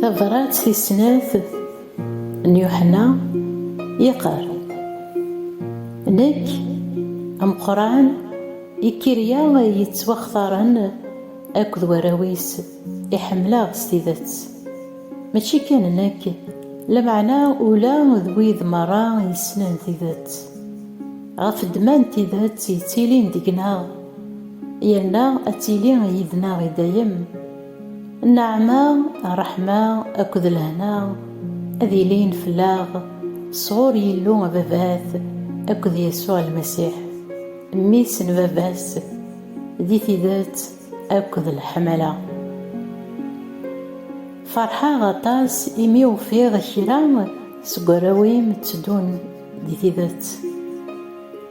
Tabrat tis snat n Yuḥenna yeqqar Nekk ameqqran ikirya yettwaxtaren akked warraw-is i ḥemmleɣ s tidet. Mačči kan nekk, lameɛna ula d wid merra yessnen tidet, ɣef ddemma n tidet yettilin deg-neɣ, yerna ad tili yid-neɣ i dayem. Nneɛma, ṛṛeḥma akked lehna ad ilin fell-aɣ sɣur Yillu Ababat akked Yasuɛ Lmasiḥ, Mmi-s n Baba-s, di tidet. akked leḥmala. Ferḥeɣ aṭas imi ufiɣ kra seg warraw-im tteddun di tidet.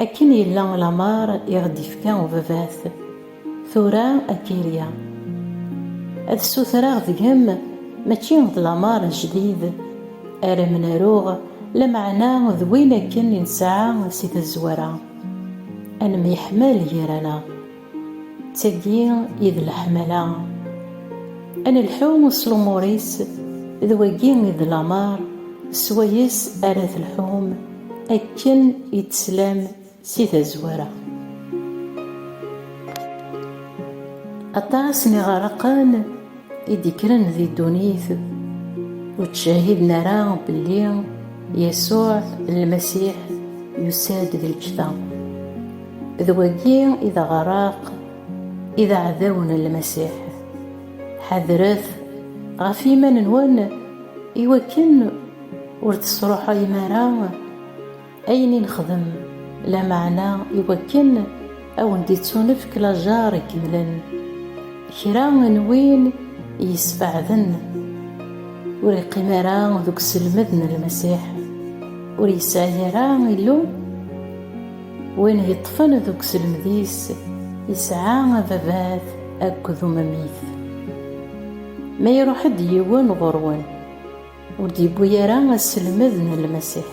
Akken yella lameṛ i ɣ-d-yefka ubabat, tura akka iga. Ad ssutreɣ deg-m mačči d lameṛ ajdid ara m-naruɣ, lameɛna d win akken i nesɛa si tazwara, ad nemyeḥmal gar-aneɣ. d tagi i d leḥmala ad nelḥu s lumuṛ-is d wagi i d lameṛ s wayes ara telḥum akken i d-teslam si tazwara. Aṭas n iɣerraqen i d-ikkren di ddunit ur ttcehhiden ara belli Yasuɛ Lmasiḥ yusa-d d lǧetta. D wagi i d aɣraq i d aɛdawen n Lmasiḥ. Ḥadret ɣef yiman-nwen i wakken ur tesruḥayem ara ayen i nexdem, lameɛna i wakken ad wen-d-ittunefk lajeṛ ikemlen. Kra n win i yessbeɛden, ur iqqim ara deg uselmed n Lmasiḥ, ur yesɛi ara Illu. Win yeṭṭfen deg uselmed-is yesɛa ababat akked umemmit. Ma iruḥ-d yiwen ɣur-wen, ur d-yewwi ara aselmed n Lmasiḥ.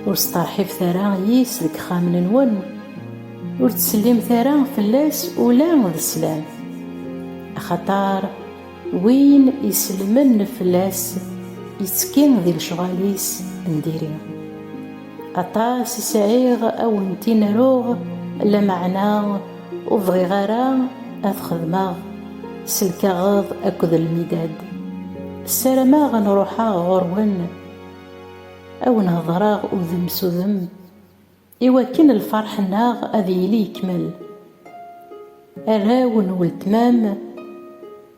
Ur steṛḥibet ara yis deg ixxamen-nwen, ur ttsellimet ara fell-as ula d sslam-t, axaṭer win isellmen fell-as yettekki di lecɣal-is n diri. Aṭas i sɛiɣ a wen-t-in-aruɣ, lameɛna ur bɣiɣ ara ad t-xedmeɣ s lkaɣeḍ akked lmidad. Ssarameɣ ad n-ruḥeɣ ɣur-wen, a wen-hedreɣ udem s udem, iwakken lferḥ-nneɣ ad yili yekmel. Arraw n weltma-m.